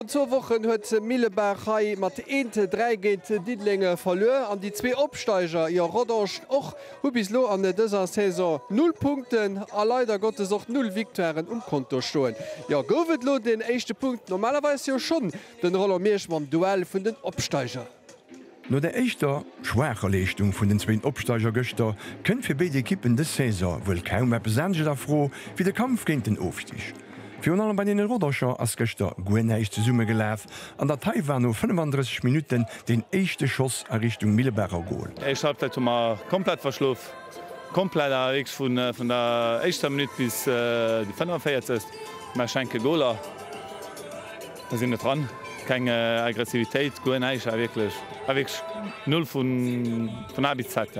Virun zwou Wochen huet Millebaach hei mat eent dräi géint Diddeleng verluer an déi zwee Opsteiger, jo Rodange och, hu bis elo an dëser Saison null Punkten a leider Gottes och null Victoiren um Konto stoen. Jo gouf et elo den éischte Punkt normalerweis jo schonn den Roland Miersch mam Duell vun den Opsteiger. No der éischter schwaacher Leeschtung vun den zwéin Opsteiger gëschter, kënnt fir béid Ekippen dës Saison wuel kaum eppes anescht a Fro wéi de Kampf géint den Ofstig. Virun allem bei den Rodangercher ass gëschter guer näischt zesumme gelaf an der Theil war no 35 Minutten deen éischte Schoss a Richtung Millebacher Gol. Éischt Halbzeit hu mer komplett verschlof, komplett awer wierklech vun der éischter Minutt bis déi 45. Mer schenke Goler. Mir sinn net dran. Keng Aggressivitéit, guer näischt, awer wierklech, awer wierklech null vun A bis Z.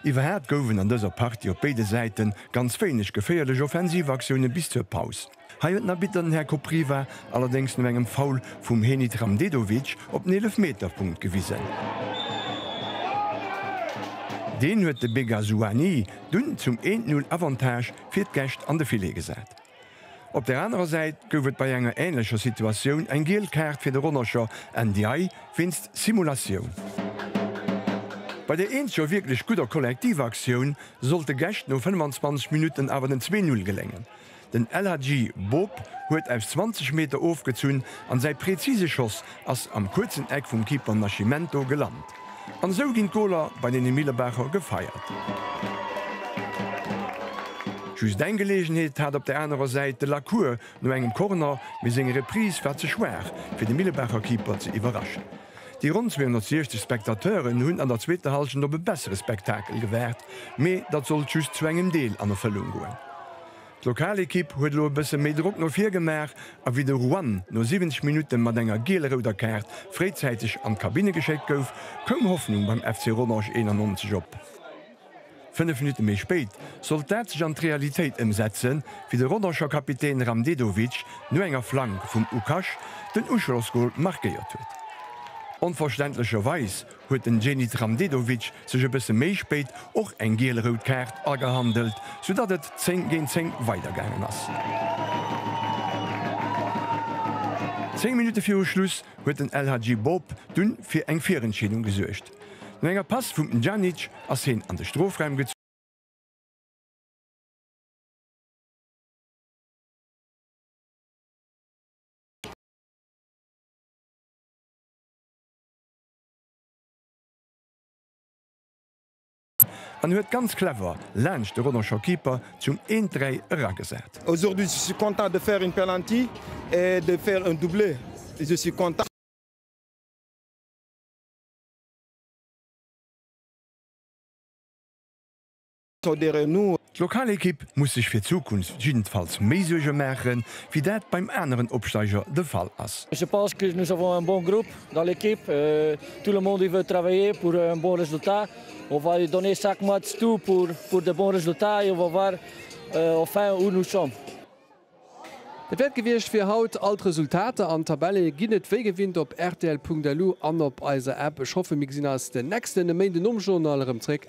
Iwwerhat gouf en an dëser Partie op béide Säite ganz wéineg geféierlech Offensivaktioune bis zur Paus. Hei huet den Arbitter, den Här Kopriva, allerdéngs no engem Foul vum Henit Ramdedovic op den Eelefmeterpunkt gewisen. Deen huet de Bega Souani dunn zum 1, 0 Avantage fir d'Gäscht an de Filet gesat. Op der anerer Säit gouf et bei enger änlecher Situatioun eng giel Kaart fir de Ronnecher Ndiaye wéinst Simulatioun. Bei der eenzeger wierklech gudder Kollektivaktioun sollt de Gäscht no 25 Minutten awer den zwee Null geléngen. Den El Hadji Bob huet aus 20 Meter ofgezunn an säi prezise Schoss ass am kuerzen Eck vum Keeper Nascimento gelant. An esou ginn d'Goler bei den Millebacher gefeiert. Just eng Geleegenheet hat op der anerer Säit de Lacour no engem Corner, mee seng Reprise war ze schwaach fir de Millebacher Keeper ze iwwerraschen. Déi ronn 260 Spectateuren hunn an der zweeter Hallschent op e bessere Spektakel gewaart, mee dat sollt just zu engem Deel an Erfëllung goen. D'Lokalekipp huet elo e bësse méi Drock no vir gemaach a wéi de Ruan no 70 Minutte mat enger giel-rouder Kaart fréizäiteg an d'Kabinne geschéckt gouf, koum Hoffnung beim FC Rodange 91 op. Fënnef Minutte méi spéit sollt dat sech an d'Realitéit ëmsetzen, wéi de Rodange Kapitän Ramdedovic no enger Flank vum Ukash den Uschlossgol markéiert huet. Onverständlecherweis huet den Zenit Ramdedovic sech e bësse méi spéit och eng giel-rout Kaart agehandelt, soudatt et 10 géint 10 weidergaangen ass. Zéng Minutte viru Schluss huet den El Hadji Bob dunn fir eng Virentscheedung gesuergt. No enger Pass vum Pjanic ass heen an de Strofraum gezunn. En huet ganz clever laanscht de Rodange Keeper zum 1, 3 eragesat. Aujourd'hui je suis content de faire un penalty et de faire un doublé je suis content. D'Lokalekipp muss sech fir d'Zukunft jiddensfalls méi Suerge maachen, wéi dat beim aneren Opsteiger de Fall ass. Dat wäert gewiescht fir haut. All d'Resultater an d'Tabelle ginn et wéi gewinnt op rtl.lu an op eiser App. Ech hoffe mir gesinn eis den nächsten Méindenomjournal erëm zréck.